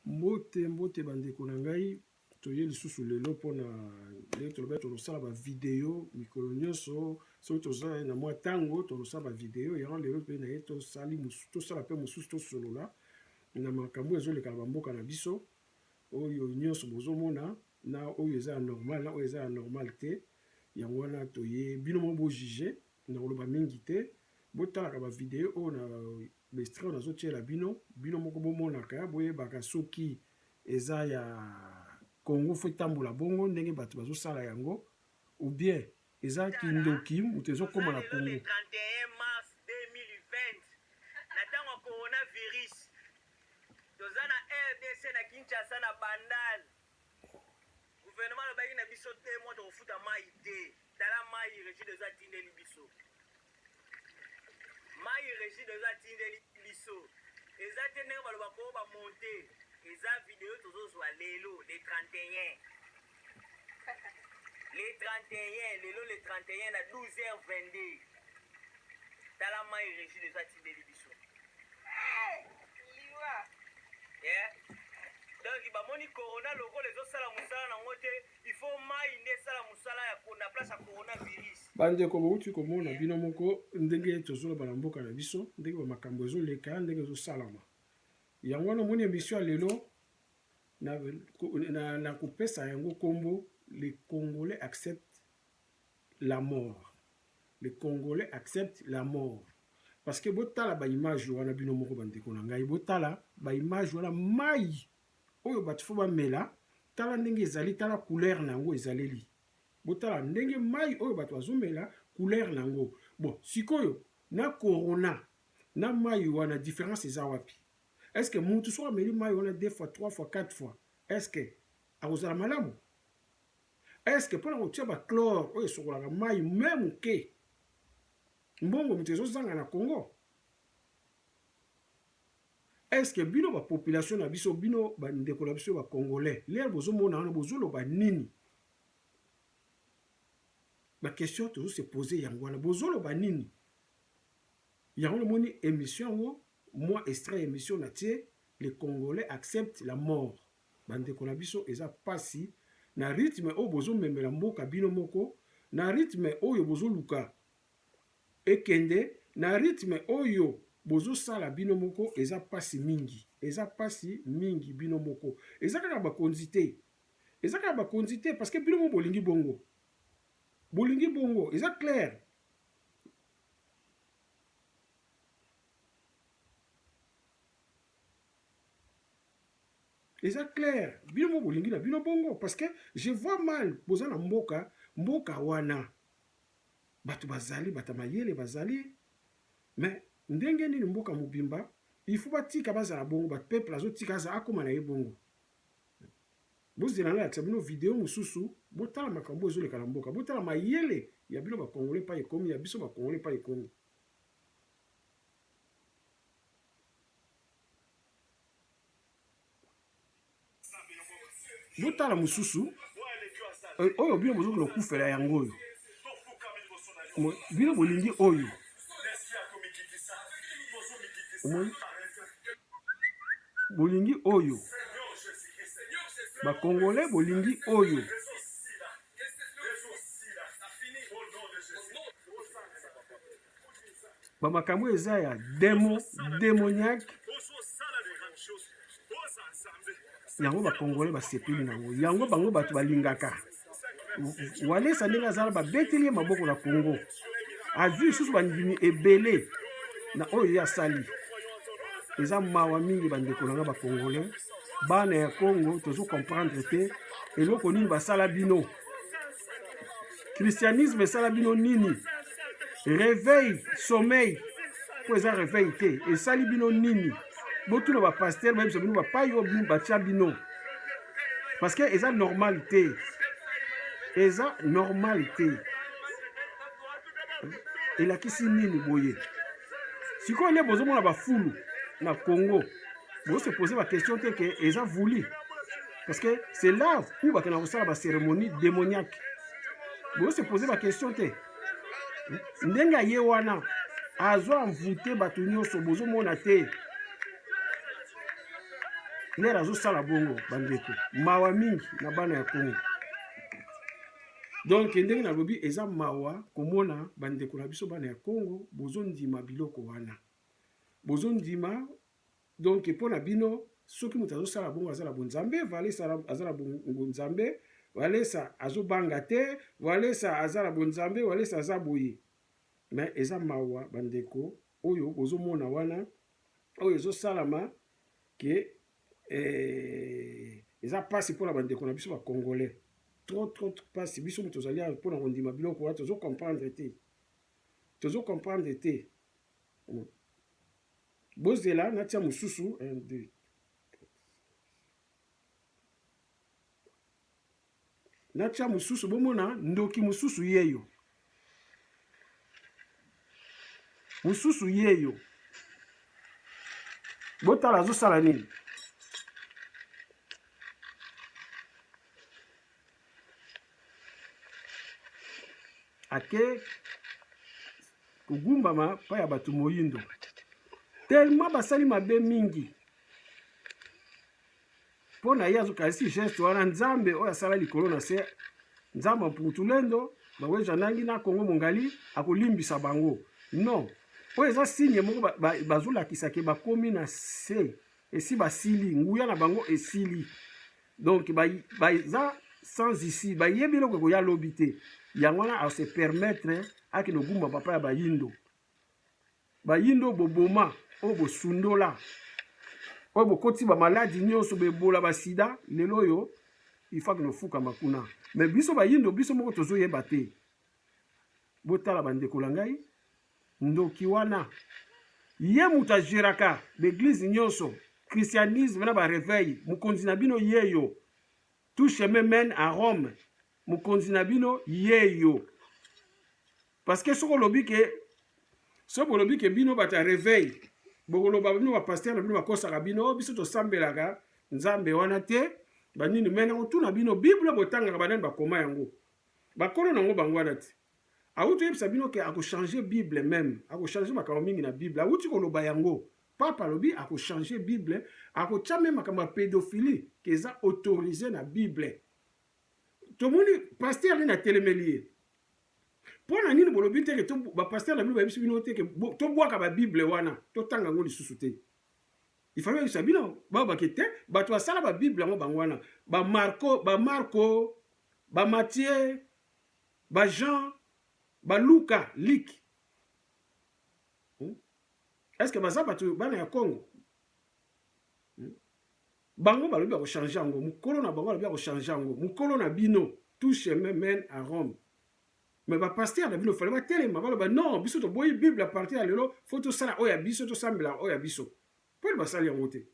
Mbote mbote ba ndeko na ngai toye lisusu lelo pona ndenge tolobaki tokosala ba video mikolo nyonso soki toza na mwa tango tokosala ba video yango lelo mpe naye tosali tosala mpe mosusu tosolola na makambo oyo ezoleka na ba mboka na biso oyo nyonso bozomona na oyo eza ya normal na oyo eza ya normal te yango wana toye bino moko bo juge na koloba mingi te botalaka ba video oyo na Mistral nazo tiela bino bino moko bo monaka bo yebaka soki eza ya Congo faut etambola bongo ndenge batu bazo sala yango ou bien eza kindoki mutu ezo koma na Congo. Gouvernement alobaki na biso deux mois tokofuta mayi te tala mayi regideso atindeli biso mayi regideso atindeli biso eza te ndenge baloba ko ba monte eza video tozozwa lelo le 31 le 31 lelo le 31 na 12h22 tala mayi regideso atindeli biso bandeko bouti komona bino moko ndenge tozoloba na mboka na biso ndenge bamakambo ezoleka ndenge ezosalama yango wana omoni emission ya lelo na, na, na kopesa yango nkombo le congolais accepte la mort le congolais accepte la mort parce que botala ba image wana bino moko ba ndeko na ngai botala ba image wana mayi oyo batu fo bamela tala ndenge ezali tala couleur na yango ezaleli botala ndenge mayi oyo batu bazomela couleur na yango bon sikoyo na corona na mayi wana difference eza wapi est ce que mutu soki ameli mayi wana deux fois trois fois quatre fois est ce que akozala malamu Est-ce que pona kotia ba chlore oyo esokolaka mayi meme muke mbongo mutu ezozanga na Congo? Est-ce que bino ba population na biso bino ba ndeko na biso ba congolais lelo bozomona wana bozoloba nini? Ba question tozo se poser yango wana bozoloba nini? Yango namoni emission yango mwa extrait ya emission natie les congolais acceptent la mort. Ba ndeko na biso eza pasi na rythme oyo bozo memela mboka bino moko na rythme oyo bozo luka ekende na rythme oyo bozo sala bino moko eza pasi mingi eza pasi mingi bino moko eza kaka ba konzi te eza kaka ba konzi te parce que bino moko bolingi bongo bolingi bongo eza claire Eza clair bino moko bolingi na bino bongo parce que je vois mal boza na mboka mboka wana bato bazali bata mayele bazali mais ndenge nini mboka mobimba il faut batika bazala bongo ba peuple azotika aza akoma na ye bongo bozela nalakisa bino video mosusu botala makambo ezoleka na mboka botala mayele ya bino bakongole pa ekomi ya biso bakongole pa ekomi botala mosusu eh, oyo bino bozoki lokufela yango oyo bino bolingi oyo omoni bolingi oyo bakongole bolingi oyo ba makambo eza ya demo demoniaque yango bakongole basepeli na yango yango bango bato balingaka walesa ndenge azala babeteli ye maboko na congo azwi lisusu bandimi ebele na oyo ye asali eza mawa mingi bandeko na nga bakongole bana ya congo tozo comprendre te eloko nini basala bino christianisme esala bino nini reveil sommeil mpo eza reveil te esali bino nini botuna bapaster bayebisa bino bapai oyo batya bino parce que eza normal te eza normal te elakisi nini boye sikoyo nde bozomona bafulu na congo bose pose bakestion te ke eza vuli parce que c'est là où bakenda kosala bacérémonie démoniaque boyose pose baquestion te ndenge aye wana azo envoute bato nyonso bozomona te lere azosala bongo bandeko mawa mingi na bana ya kongo donk ndenge nalobi eza mawa komona bandeko na biso bana ya kongo bozondima biloko wana bozondima Donc mpo na bino soki moto azosala bongo aza na bonzambe, Valesa aza na bonzambe, Valesa azobanga te, Valesa aza na bonzambe, Valesa aza boye. Me eza mawa bandeko oyo bozomona wana oyo ezosalama ke eh, eza mpasi mpo na bandeko na biso bacongolais trop trop mpasi biso moto tozali awa mpo na kondima biloko wana tozo comprendre te tozo comprendre te hmm. Bozela natia mususu un deux. Natia mususu bomona ndoki mususu yeyo. Mususu yeyo. Botala azosala nini? ake kogumbama mpa ya bato moyindo telema basali mabe mingi mpo na ye azokanisi geste wana nzambe oyo asala likolo na se nzambe mputulendo baweja nangi na kongo mongali akolimbisa bango non oyo eza signe moko bazolakisa ke bakomi na se esi basili nguya na bango esili donc baza sans ici bayebi eloko ekoya lobi te yango wana ase permettre akende ogumba papa ya bayindo bayindo boboma oyo bosundola oyo bokoti bamaladi nyonso bebola basida lelo oyo ifaki nofukama kuna me biso bayindo biso moko tozoyeba te botala bandeko na ngai ndoki wana ye moto ageraka baeglise nyonso christianisme na bareveil mokonzi na bino yeyo tout chemin mène à rome mokonzi na bino yeyo parce que soki olobi ke soki bolobi ke bino bato ya reveil bokoloba bino bapaster na bino bakosaka bino oh, biso tosambelaka nzambe wana te banini me nakotuna bino bible botangaka banani bakoma yango bakolo na yango bango wana te Awuti oyebisa bino ke ako changer bible meme ako changer makambo mingi na bible awuti koloba yango pape alobi ako changer bible akotia meme makambo ya pedophilie ke eza autorise na bible tomoni pasteur nini atelemeli ye mpo na nini bolobi te ke bapasteur na bino bayebisi bino te ke tobwaka babible wana totanga yango lisusu te ifali oyebisa bino bao bake te bato basala babible yango bango wana bamarko bamarko bamatie Ba gens ba luka like. Hmm? Est-ce que baza batu bana ya Congo? Hmm? Bango balobi bako changer yango, mukolo na bango balobi bako changer yango, mukolo na bino tout chemin mène à Rome. Mais ba pasteur na bino fallait ba telema baloba non, biso toboyi Bible à partir ya lelo, faut tosala oyo ya biso, tosambela oyo ya biso. Mpo basali yango te.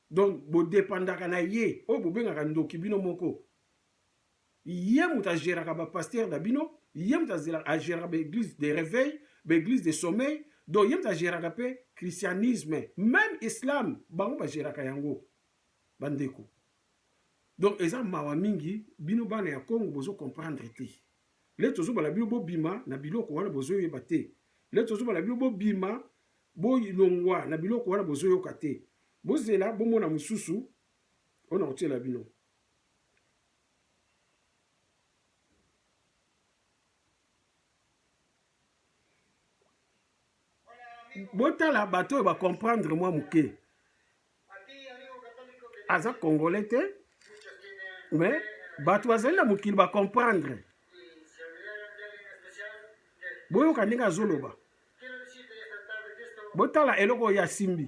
donc bodepandaka na ye oyo bobengaka ndoki bino moko ye moto a geraka ba pasteur na bino ye moto a geraka ba eglise de reveil ba eglise de sommeil donc ye moto a geraka mpe christianisme meme islam bango ba geraka yango bandeko donc eza mawa mingi bino bana ya congo bozo comprendre te le tozobala bino bobima na biloko wana bozoyeba te le tozobala bino bobima bolongwa na biloko wana bozoyoka te bozela bomona mosusu oyo nakotiela bino botala bato oyo bacomprendre mwa moke aza congolais te mais bato bazali na mokili bacomprendre boyoka ndenge azoloba botala eloko oyo asimbi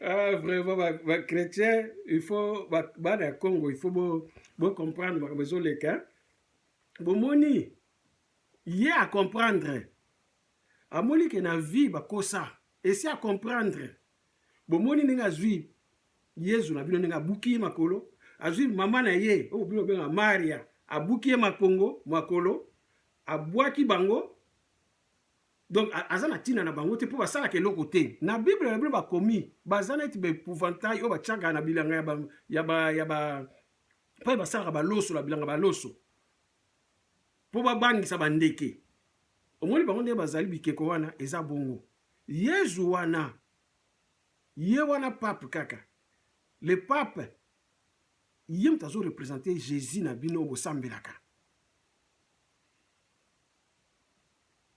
ah, vraiment bachrétien il faut bana ya congo il faut bocomprendre bo makambo ezoleka bomoni ye acomprendre amoni ke na vie bakosa esi acomprendre bomoni ndenge azwi Yezu na bino ndenge abuki ye makolo, azwi mama na ye oyo bino bobengaka Maria, abuki ye makongo makolo, abwaki bango donc aza na ntina na bango te mpo basalaka eloko te na bible na bino bakomi baza neti baepouvantai oyo batiaka na bilanga ya ba, ya ba, ya ba mpai basalaka baloso na bilanga baloso mpo babangisa bandeke omoni bango ndenge bazali bikeko wana eza bongo yezu wana Ye wana pape kaka. Le pape ye mutu azo representer Jesus na bino oyo bosambelaka.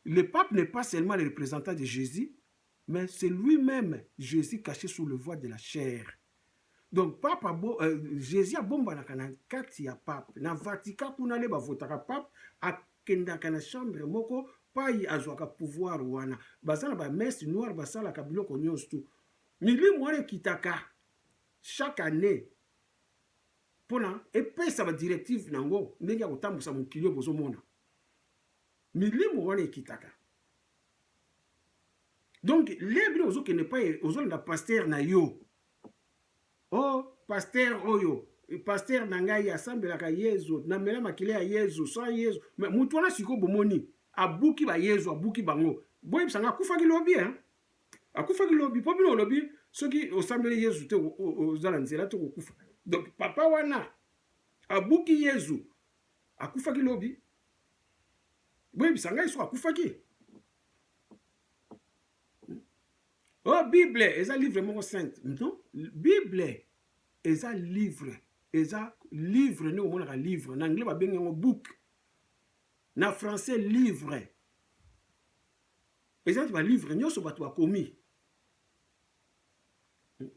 Le pape n'est pas seulement le representant de Jesus mais c'est lui meme Jesus cache sous le voile de la chair. Donc pape abo, euh, Jesus abombanaka na kati ya pape na Vatican kuna nde bavotaka pape a, kendaka na chambre moko payi azwaka pouvoir wana baza na ba messe noire basalaka biloko nyonso tout milimu wana ekitaka chaque année mpona epesa ba directive na yango ndenge ya kotambusa mokili oyo bozomona milimu wana ekitaka donc le bino ozokende epai ozolanda pastere na yo Oh pasteur oyo pasteur na ngai asambelaka Yezu, na mela makila ya Yezu, sans Yezu. Mais mutu wana siko bomoni abuki ba Yezu, abuki bango. Boyebisa nga akufaki lobi hein. Akufaki lobi po bino olobi soki osambeli Yezu te oza na nzela te kokufa. Donc papa wana abuki Yezu. Akufaki lobi. Boyebisa ngai siko akufaki. Oh, bible eza livre moko sainte non bible eza livre eza livre ndenge omonaka livre na anglais babengi yango book na français livre eza ti balivre nyonso bato bakomi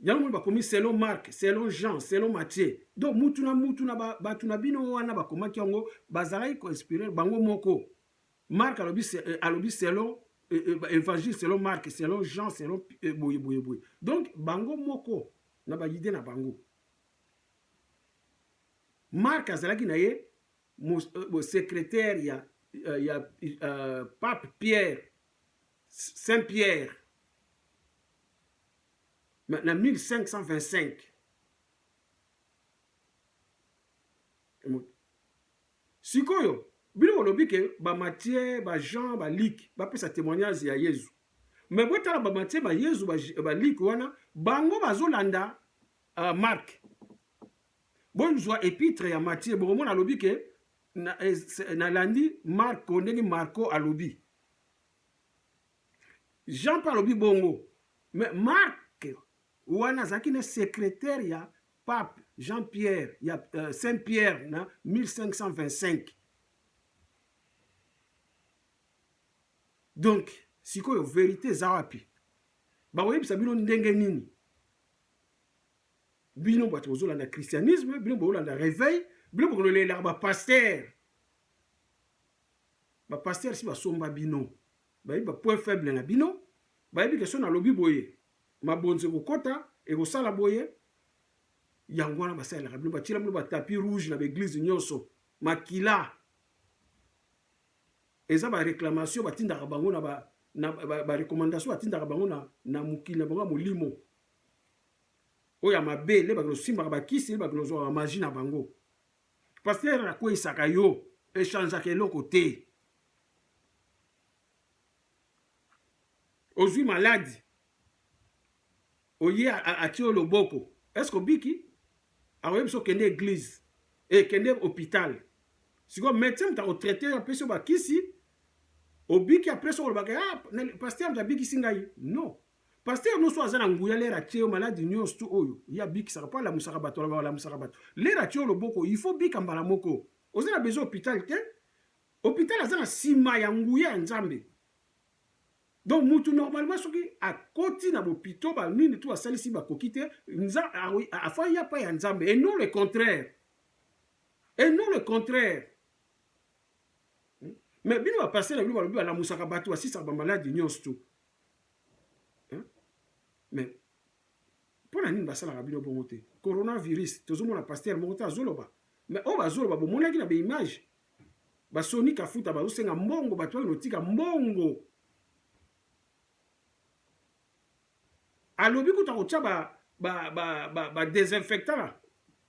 yango moni bakomi selon marc selon jean selon mathieu donc mutu na mutu na bato na bino wana bakomaki yango bazalaki koinspire bango moko Marc alobi euh, alobi selon euh, euh, évangile selon Marc selon Jean selon boye boye boye donc bango moko na ba idée na bango Marc azalaki na ye secrétaire ya ya pape Pierre Saint Pierre na 1525 Sikoyo bino bolobi ke ba Mathieu, ba Jean, ba Luc bapesa temoignage ya Yezu. Mais botala ba Mathieu, ba Yezu, ba Luc wana bango bazolanda Marc. Bozwa epitre ya Mathieu bokomona alobi ke nalandi Marco ndenge Marco alobi. Jean mpe alobi bongo. Mais Marc wana azalaki ne secretaire ya Pape Jean Pierre ya uh, Saint Pierre na 1525 donc sikoyo verite eza wapi bakoyebisa bino ndenge nini bino bato bozolanda christianisme bino bozolanda réveil bino bokolelaka bapaster bapaster si basomba bino bayebi bapoint faible na bino bayebi ke so nalobi boye mabonza ekokota ekosala boye yango wana basalelaka bino batyela bino batapi rouge na baeglize nyonso makila eza bareclamation batindaka bango na barecommandation ba, ba batindaka bango na, na mokili na bango ya molimo oyo ya mabe nde bakende osimbaka bakisi nde bakende ozwaka magi na bango paster akweisaka yo echangeaka eloko te ozui maladi oye atie yo loboko eske obiki akoyebi biso okende eglise ekende eh, hopital sikoyo medecin moto akotraite yo apesi yo bakisi obiki apres okolobaka ah, paster moto abikisi ngai non paster nyonso aza na nguya lere atie yo maladi nyonso tu oyo ye abikisaka mpo alamusaka bato alobaka alamusaka bato lere atie yo loboko il faut bika mbala moko oza na besoin hopital te Hopital aza na sima ya nguya ya Nzambe. Donc mutu normalement soki akoti na bopito ba nini tu asalisi bakoki te nza afai ya pa ya Nzambe et non le contraire. Et non le contraire. Hmm? Mais bino ba passer na bino balobi balamusaka bato basisaka bamaladi nyonso tu. Hmm? Mais mpo na nini basalaka bino bongo te coronavirus tozomona pasteur moko te azoloba mais oyo bazoloba bomonaki na baimage Ba Sony Kafuta bazo senga mbongo batu bakende kotika mbongo. Alobi kutu akotia ba ba ba ba, ba desinfectant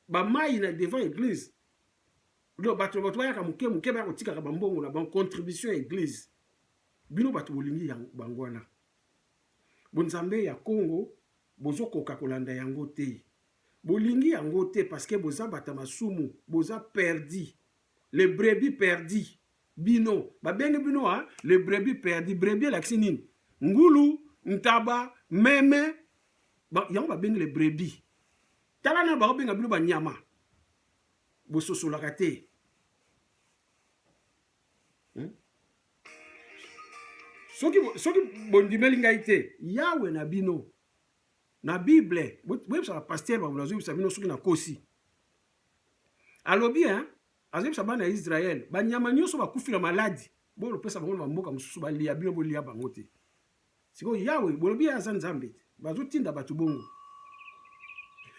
ba mayi na devant eglise. Donc bato bato bayaka moke moke baya kotikaka bambongo na bango contribution ya eglise bino bato bolingi bango wana bonzambe ya congo bozokoka kolanda yango te Bolingi yango te parce que boza bata masumu boza perdi le brebis perdi bino babengi bino a le brebis perdi brebis elakisi nini ngulu ntaba meme ba, yango babengi le brebis tala na bakobenga bino banyama bososolaka te hmm? soki, soki bondimeli ngai te yawe na bino na bible boyebisaka pasteur babula azoyebisa bino soki nakosi alobi hein azoyebisa bana ya israele banyama nyonso bakufi na maladi bolopesa bango na bamboka mosusu balia bino bolia bango te sikoyo yawe bolobi ye aza nzambe te bazotinda bato bongo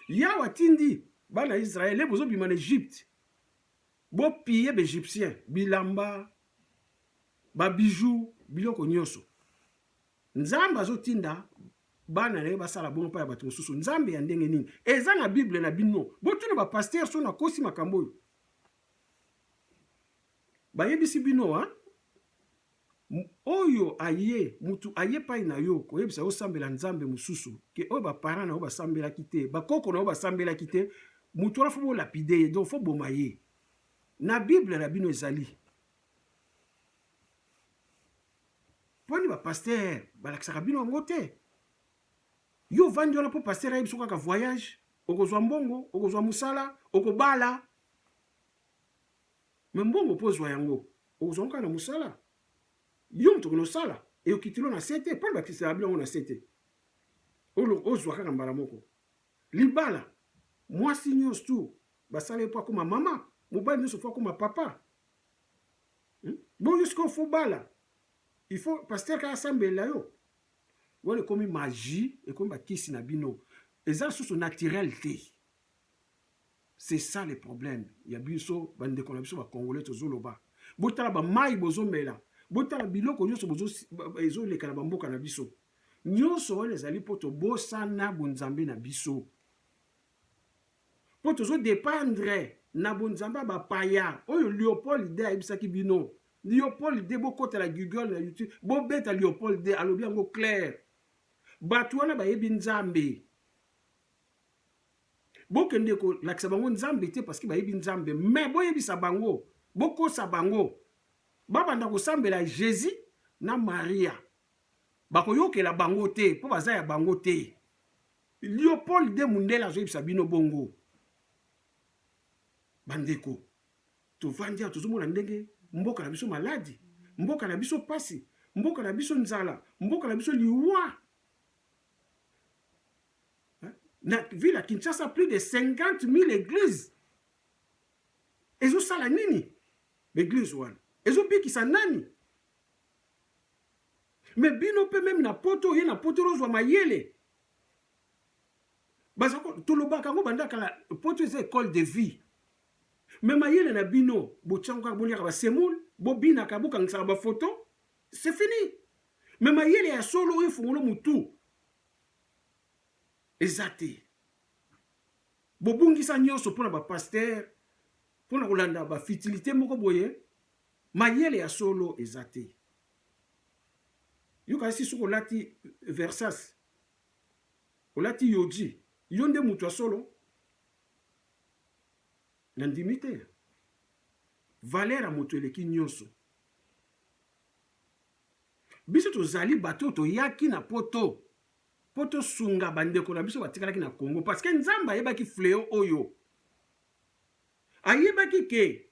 yawe atindi bana ya israele bozobima na egypte bopiye baegyptien bilamba babiju biloko nyonso Nzambe azotinda bana na ye basala bongo mpo ya bato mosusu. Nzambe ya ndenge nini? Eza na Bible na bino. Botuna ba pasteur so nakosi makambo oyo. Bayebisi bino ha? oyo aye mutu aye epai na yo koyebisa yo osambela nzambe mosusu ke oyo baparent na yo basambelaki te bakoko na yo basambelaki te mutu wana fo bolapide ye donc fo boma ye na bible na bino ezali Pwani ba pasteur balakisaka bino yango te yo vandi wana mpo pasteur ayebi so kaka voyage okozwa mbongo okozwa mosala okobala me mbongo mpo ozwa yango okozwa ngo kaka na mosala yo moto okende osala eyokitilo na se te mpona bakisaka bino yango na se te ozwa kaka mbala moko libala mwasi nyonso tu basala ye mpo akoma mama mobali nyonso mpo akoma papa Hmm? Bon, yo sikoyo faut bala. Il faut pasteur kaka asambela yo. Wana ekomi magie, ekomi bakisi na bino. Eza susu naturel te. C'est ça le problème. Ya biso bandeko na biso ba congolais tozoloba. Botala ba mai bozomela. Botala biloko nyonso bozo ezoleka na bamboka na biso. Nyonso wana ezali mpo tobosana bonzambe na biso. Po tozo dependre na bonzambe ya ba paya oyo Leopold de ayebisaki bino Leopold de bokota na Google na YouTube bobeta Leopold de alobi yango clair batu wana bayebi nzambe bokende kolakisa bango nzambe te parceke bayebi nzambe mais boyebisa bango bokosa bango babanda kosambela Jésus na Maria bakoyokela bango te po baza ya bango te Leopold de Mundele azoyebisa bino bongo bandeko tovandi awa tozomona ndenge mboka na biso maladi mboka na biso mpasi mboka na biso nzala mboka na biso liwa na ville ya kinshasa plus de 50 000 église ezosala nini baeglise wana ezobikisa nani me bino mpe meme na poto oye na poto ozwa mayele baza tolobaka yango banda kala poto eza ecole de vie me mayele na bino botiango kaka boliaka basemoule bobinaka bokangisaka bafoto se fini me mayele ya solo oyo efungolo motu eza te bobungisa nyonso mpona bapaster mpona kolanda bafitilité moko boye mayele ya solo eza te Yo kasi soki olati Versace, olati Yoji, yo nde moto ya solo? Nandimi te. Valeur ya moto eleki nyonso. Biso tozali bato oyo toyaki na poto mpo tosunga bandeko na biso batikalaki na Congo, parce que Nzambe ayebaki fleo oyo ayebaki ke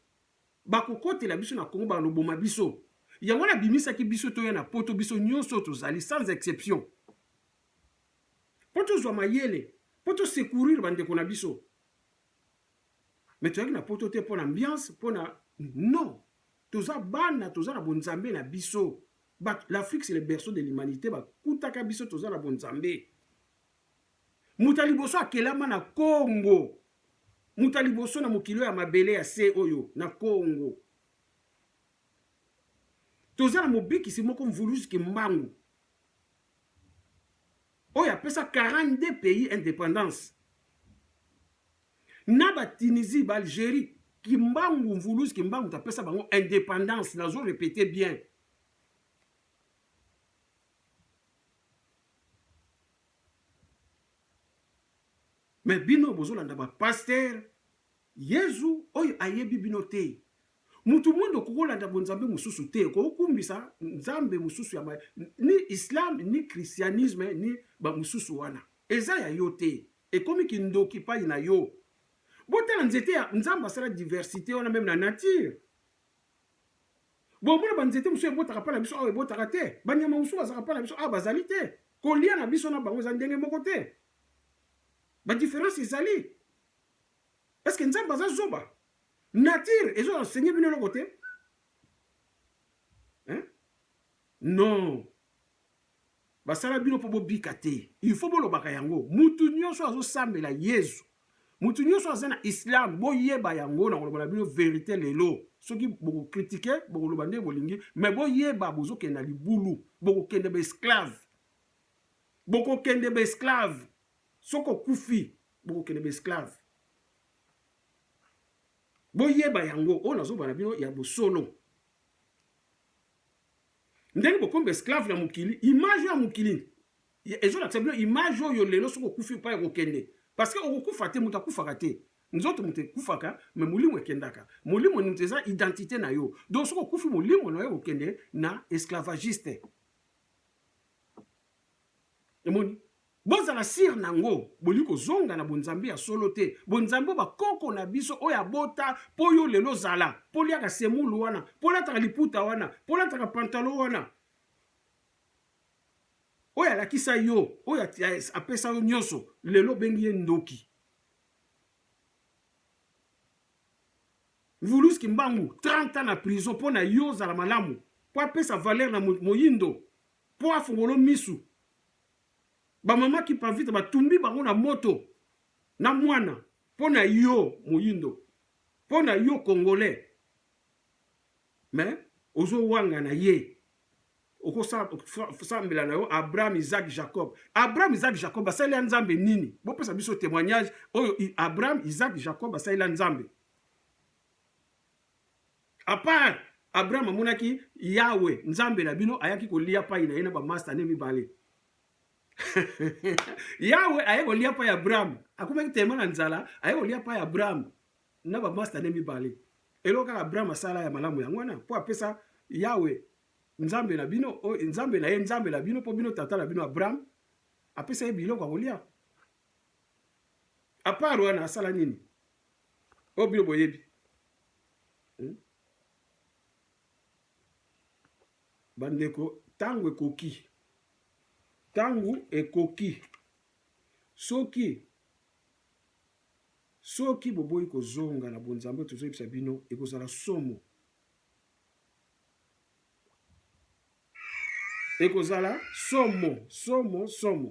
Bakokotela biso na Congo baloboma biso yango wana abimisaki biso toya na poto biso nyoso tozali sans exception po tozwa mayele po to secourir bandeko na biso me toyaki na poto te mpo na ambiance mpo na non toza bana toza na bonzambe na biso l'afrique c'est le berceau de l'humanité bakutaka biso toza na bonzambe Moto ya liboso akelama na Congo. Moto ya liboso na mokili oyo ya mabele ya se oyo na Congo. Toza na mobikisi moko Mvuluzi Kimbangu oyo apesa 42 pays independance na ba Tunisie, ba Algerie, Kimbangu Mvuluzi Kimbangu tapesa bango independance, nazo repete bien Mais bino bozolanda ba pasteur Yezu oyo ayebi bino te. Mutu mwendo kokolanda bonzambe mosusu te, kokumbisa nzambe mosusu ya ni islam ni christianisme ni ba mosusu wana eza ya yo te, ekomi kindoki pai na yo. Botala nzete ya nzambe asala diversite wana meme na nature Bomona banzete mosusu ebotaka mpa na biso awa ebotaka te, banyama mosusu bazalaka mpa na biso awa bazali te, kolia na biso na bango eza ndenge moko te, badiference ezali. Eske Nzambe aza zoba? Nature ezo enseigner bino eloko te? Non. Basala bino po bobika te il faut bolobaka yango mutu nioso azo sambela yezu mutu nioso aza na islam boyeba yango nakoloba na bino verite lelo soki boko critique bokoloba nde bolingi mais boyeba bozokende na libulu bokokende ba esclave bokokende ba esclave soki okufi bokokende ba esclave boyeba yango oyo nazoloba na bino ya bosolo ndenge bokomi ba esclave ya mokili image oyo ya mokili ezolakisa bino image oyo lelo soki okufi epai ekokende parce que okokufa te moto akufaka te nzoto moto ekufaka me molimo ekendaka molimo moto eza identité na yo donc soki okufi molimo na yo ekokende na esclavagiste emoni Bozala sur nango, bolingi kozonga na bonzambe ya solo te, bonzambe oyo ba koko na biso oyo abota po yo lelo ozala, po oliaka semoule wana, po olataka liputa wana, po olataka pantalon wana, oyo alakisa yo, oyo apesa yo nionso, lelo obengi ye ndoki. Mvulus Kimbangu 30 ans na prison po na yo ozala malamu, po apesa valeur na moyindo, po afongolo misu ba maman kipavita ba tumbi bango na moto na mwana pona yo moyindo pona yo congolais mais ozo wanga na ye okosambela na yo abraham isaac jacob abraham isaac jacob asalela nzambe nini bopesa biso témoignage oyo abraham isaac jacob asalela nzambe Apart Abraham amonaki Yahwe Nzambe na bino ayaki kolia pai na ye na ba masta ne mibale. Yahwe aye kolia pai Abraham, akomaki telema na nzala, aye kolia pai Abraham na ba masta ne mibale. Eloko kaka Abraham asala ya malamu yango wana po apesa Yahwe Nzambe na bino, o Nzambe na ye Nzambe na bino po bino tata na bino Abraham apesa ye biloko ya kolia. Apart wana asala nini? oyo bino boyebi hmm? bandeko ntango ekoki ntango ekoki soki soki boboyi kozonga na bonzambe tozoyebisa bino ekozala somo ekozala somo somo somo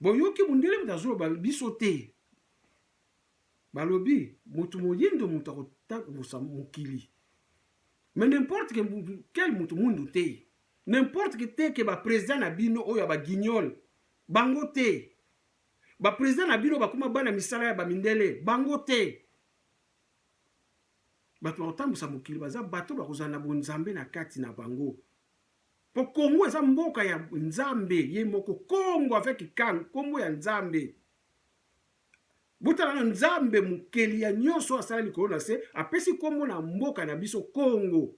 Boyoki mundele moto azoloba biso te balobi moto moyindo moto akotambusa mokili mais n'importe que quel moto mundu te n'importe que te ke baprésident na bino oyo ya baguignol bango te baprésident na bino bakoma bana misala ya bamindele bango te bato bakotambusa mokili baza bato bakozala na bonzambe na kati na bango Po Congo eza mboka ya Nzambe ye moko Congo avec Kang kombo ya Nzambe. Botala na Nzambe mokeli ya nyonso asala likolo na se apesi kombo na mboka na biso Congo.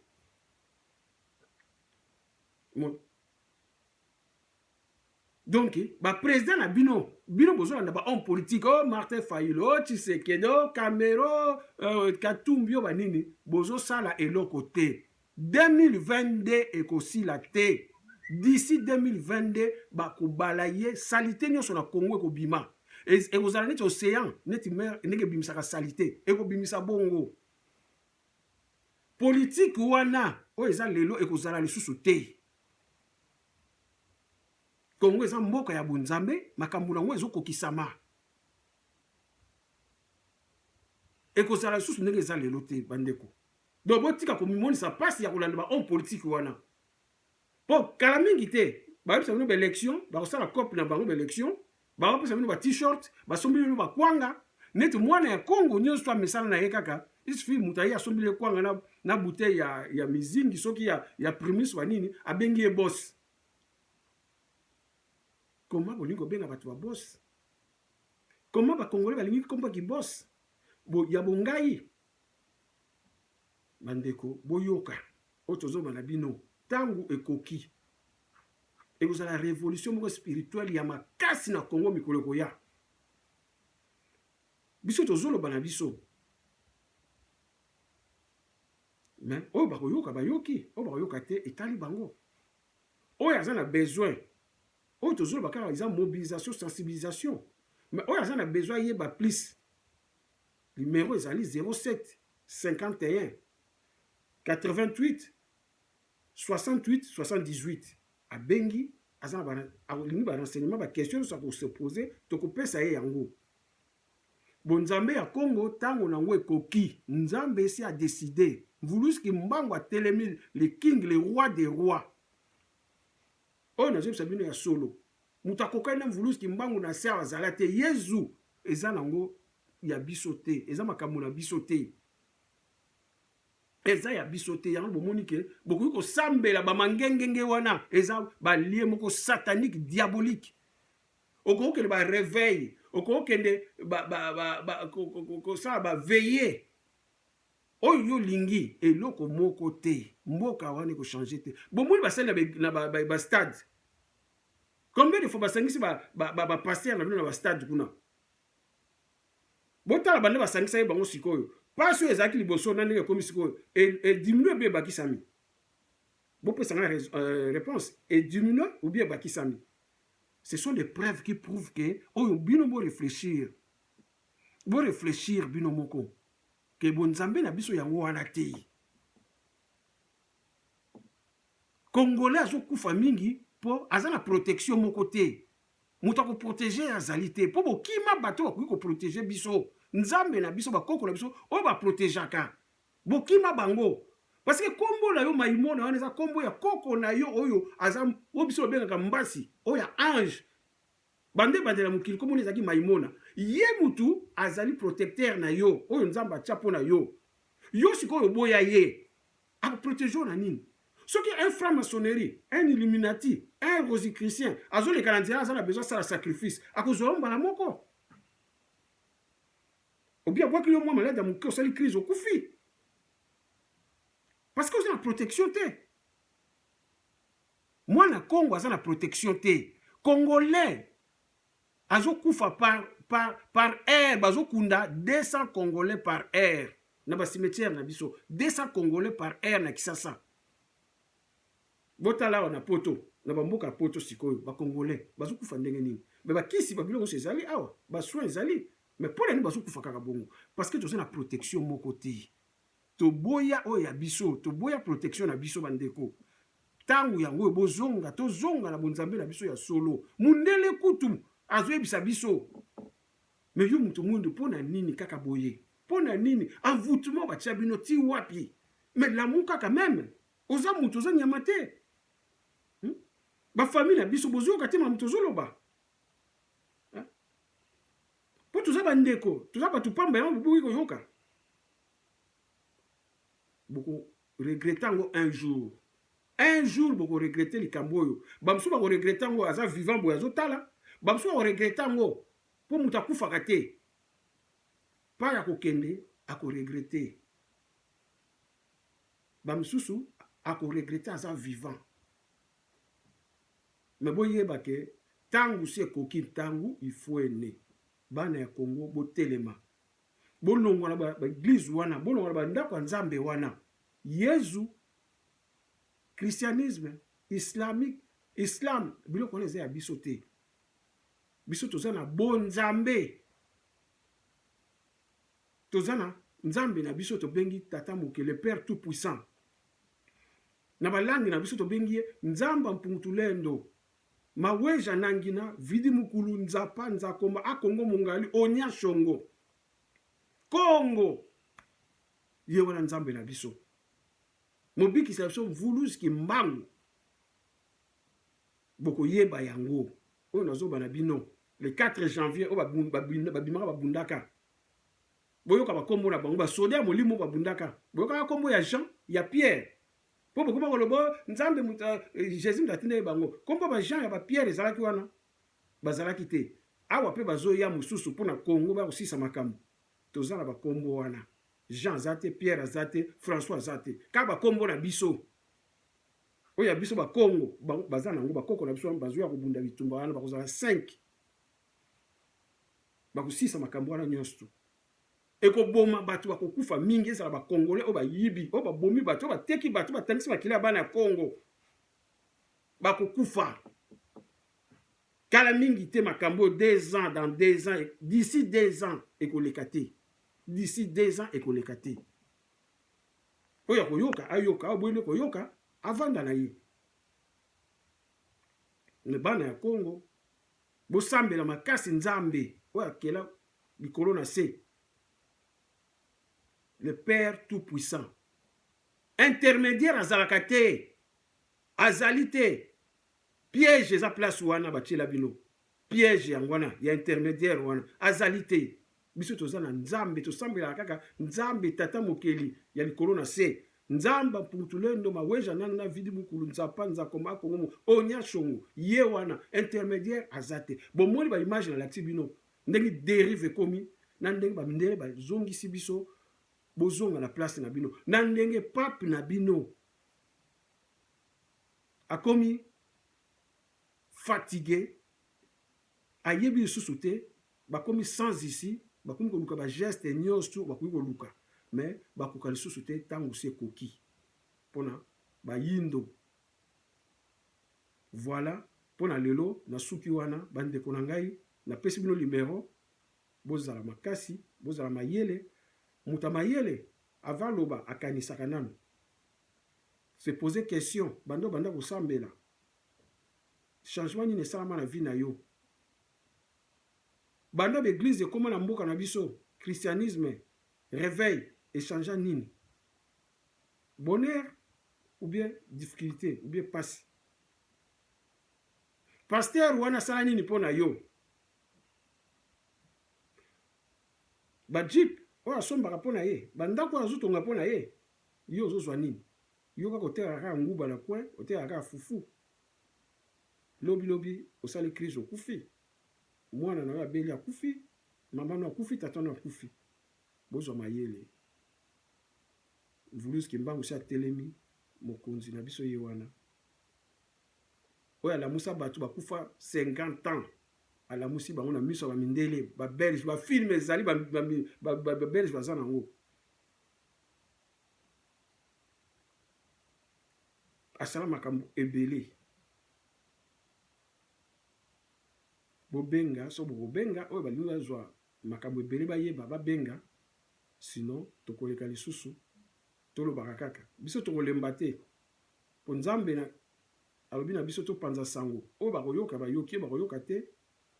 Donc ba president na bino bino bozolanda ba homme politique oh Martin Fayulu oh Tshisekedi oh Kamero euh, Katumbi oh banini bozosala eloko te 2022 ekosila te d'ici 2022 bakobala ye salite nyonso na Congo ekobima ekozala neti océan neti mer ndenge ebimisaka salite ekobimisa bongo politike wana oyo eza lelo ekozala lisusu te Congo eza mboka ya bonzambe, makambo na yango ezokokisama. Ekozala lisusu ndenge eza lelo te bandeko. Donc botika komimonisa mpasi ya kolanda bahomme politique wana. Mpo kala mingi te bayebisa bino baelection, bakosala cope na bango baelection, bakopesa bino ba t-shirt basombeli bino bakwanga neti mwana ya congo nyonso amesana na ye kaka isfi moto aye asombeli ye kwanga na, na bouteille ya, ya mizingi soki ya, ya primus wa nini abengi ye bosi koma bolingi kobenga bato babosi koma bakongole balingi kombo ya kibosi ya bongai Ba ndeko boyoka oyo tozoloba na bino, tango ekoki ekozala revolution moko spirituelle ya makasi na Congo mikolo ekoya. Biso tozoloba na biso mais oyo bakoyoka bayoki, oyo bakoyoka te etali bango. Oyo aza na besoin oyo tozoloba kaka eza mobilisation sensibilisation, mais oyo aza na besoin ayeba plus Numero ezali 07 51 88 68 78 abengi aza na alingi ba renseignement ba question nyonso akose pose tokopesa ye yango bonzambe ya congo ntango na yango ekoki nzambe esi adeside mvulus kimbangu atelemi le king le roi de roi oyo nazobisa bino ya solo Moto akokani na mvuluzi kimbangu na se awa azala te yezu. Eza nango ya biso te eza makambo na biso te eza ya biso te yango bomoni ke bokoki kosambela bamangengenge wana eza balie moko satanique diabolique okokende bareveil okokende kosala baveye oyo yo olingi eloko moko te mboka wana ekochange te bomoni basali na bastade Combien de fois basangisi ba, ba, ba, ba pasteur na bino na ba stade kuna botala bande basangisa ye bango sikoyo pasi oyo ezalaki liboso na ndenge ekomi sikoyo ediminue mpe ebakisami bopesa ngai euh, réponse ediminue ou bien ebakisami ce sont des preuves qui prouvent que oyo bino boréfléchir boréfléchir bino moko ke bonzambe na biso yango wana te Congolais azo kufa mingi po aza na protection moko te. Moto ako proteger azali te po bokima bato bakoki ko proteger biso. Nzambe na biso ba koko na biso oyo ba protegeaka. Bokima bango. Parce que kombo na yo Maimona wana eza kombo ya koko na yo oyo aza oyo biso babengaka mbasi oyo ya ange. Banda ebandela mokili kombo na ezalaki Maimona. Ye mutu azali protecteur na yo oyo Nzambe atia po na yo. Yo sikoyo oboya ye. Ako proteger yo na nini? Soki un franc maçonnerie, un illuminati, un rosicrucien azo leka na nzela aza na besoin asala sacrifice, ako zwa yo mbala moko. Obi abwaki yo mwa malade ya moke osali crise okufi. Parce que oza na protection te. Mwana Kongo aza na protection te. Congolais azo kufa par par par heure bazo kunda 200 congolais par heure na ba cimetière na biso 200 congolais par heure na kisasa botala awa na poto na bamboka ya poto sikoyo bacongolais bazokufa ndenge nini me bakisi babiloko nyonso ezali awa basoin ezali me mpo na nini bazokufa kaka bongo parceke toza na protection moko te Toboya oyo ya biso, toboya protection na biso bandeko. Tango yango oyo, bozonga, tozonga na bonzambe na biso ya solo. Mundele kutu azoyebisa biso mais yo moto mwindu mpo na nini kaka boye? Mpo na nini envoûtement batia bino ti wapi? Mais lamuka quand même, oza moto, oza nyama te. Hmm? Ba famille na biso bozoyoka te mamu tozoloba mpo toza bandeko, toza bato pamba yango boboki koyoka boko regrette yango un jour un jour boko regrette likambo oyo bamosusu bako regrette yango aza vivant boye azotala bamosusu bako regrette yango mpo moto akufaka te pa ya kokende ako regrette bamosusu ako regrette aza vivant me boyeba ke ntango si ekoki ntango ifuene bana ya kongo botelema bolongwa na ba eglise wana, bolongwa na ba ndako ya Nzambe wana. Yezu, christianisme, islamique, islam, biloko wana eza ya biso te. Biso toza na bo Nzambe. Toza na Nzambe na biso tobengi Tata Moke, le Père tout puissant. Na balangi na biso tobengi ye Nzamba Mpungutulendo, Maweja Nangina, Vidi Mukulu, Nzapa, Nzakomba, Akongo Mongali, Onya Shongo. Kongo! Ye wana Nzambe na biso. Mobikisi na biso Mvuluz Kimbangu. Bokoyeba yango. Oyo nazoba na bino. Le 4 janvier, oyo babimaka babundaka. Boyoka bakombo na bango. Basoda ya molimo babundaka. Boyokaka kombo ya Jean, ya Pierre. Mpo bokoma koloba oh, Nzambe moto eh, eh, Jesus moto atindaki bango. Kombo ba Jean ya ba Pierre ezalaki wana? Bazalaki te. Awa mpe bazoya mosusu mpo na Congo ba kosisa makambo. Toza na bakombo wana. Jean aza te, Pierre aza te, François aza te. Kaka bakombo na biso. Oyo ya biso bakongo baza nango bakoko na biso wana bazoya kobunda bitumba wana bakozala 5 bakosisa makambo wana nyonso ekoboma bato bakokufa mingi ezala ba congolais oyo bayibi oyo babomi bato oyo bateki bato batangisi makila ya bana ya congo bakokufa kala mingi te makambo oyo deux ans dans deux ans d'ici deux ans ekoleka te d'ici deux ans ekoleka te oyo akoyoka ayoka oyo boyende koyoka avanda na ye me bana ya congo bosambela makasi nzambe oyo akela likolo na se le père tout puissant intermediaire azalaka te azali te piège eza place wana batiela bino piège yango wana ya intermediaire wana azali te biso toza na nzambe tosambelaka kaka nzambe tata mokeli ya likolo na se nzamba mputulendo maweja nanga na vidi mukulu nzapa nzakoma kongomo onya shongo ye wana intermediaire aza te bomoni baimage nalakisi bino Ndenge derive ekomi na ndenge ba mindele ba zongisi biso bozonga na place na bino na ndenge pape na bino akomi fatigue ayebi lisusu te bakomi sans ici bakomi koluka bageste nyonso bakoki koluka me bakoka lisusu te ntango si ekoki mpona bayindo Voilà pona lelo na suki wana ba ndeko na ngai na pesi bino limero bozala makasi bozala mayele moto ya mayele avant aloba akanisaka nanu se poser question banda obanda kosambela changement nini esalama na vie na yo banda ba eglise ekoma na mboka na biso christianisme reveil echangea nini Bonheur ou bien difficulte ou bien pasi. Pasteur wana asala nini mpo na yo? Ba jeep oyo asombaka mpo na ye, ba ndako oyo azotonga mpo na ye, yo ozozwa nini? Yo kaka otekaka kaka nguba na coin, otekaka kaka fufu. Lobi lobi osali crise okufi. Mwana na yo abeli akufi, mama no akufi, tata no akufi. Bozwa mayele. Mvuluzi Kimbangu esi atelemi, mokonzi na biso ye wana. Oyo alamusa bato bakufa 50 ans, alamusi bango na miso ya ba mindele, ba belge, ba film ezali ba, ba, ba, ba, ba belge baza nango. Asala makambo ebele. Bobenga so bokobenga oyo balingi bazwa makambo ebele bayeba, babenga sinon tokoleka lisusu tolobaka kaka biso tokolemba te po nzambe na alobi na biso topanza sango oyo bakoyoka bayoki oyo bakoyoka te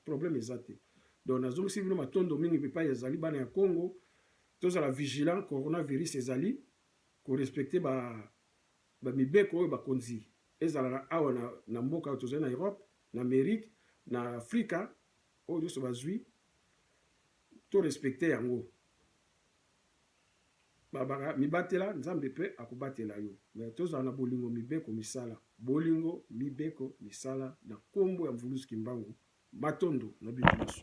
problème eza te donc nazongiseli bino matondo mingi bipai ezali bana ya congo tozala vigilant coronavirus ezali korespecte ba bamibeko oyo bakonzi ezala na awa na, na mboka oyo tozali na europe na amerike na afrika oyo nyonso bazwi To respecter yango. Babaka mibatela nzambe pe akobatela yo mais tozala na bolingo mibeko misala bolingo mibeko misala na kombo ya mvuluzi kimbangu matondo na bino nioso.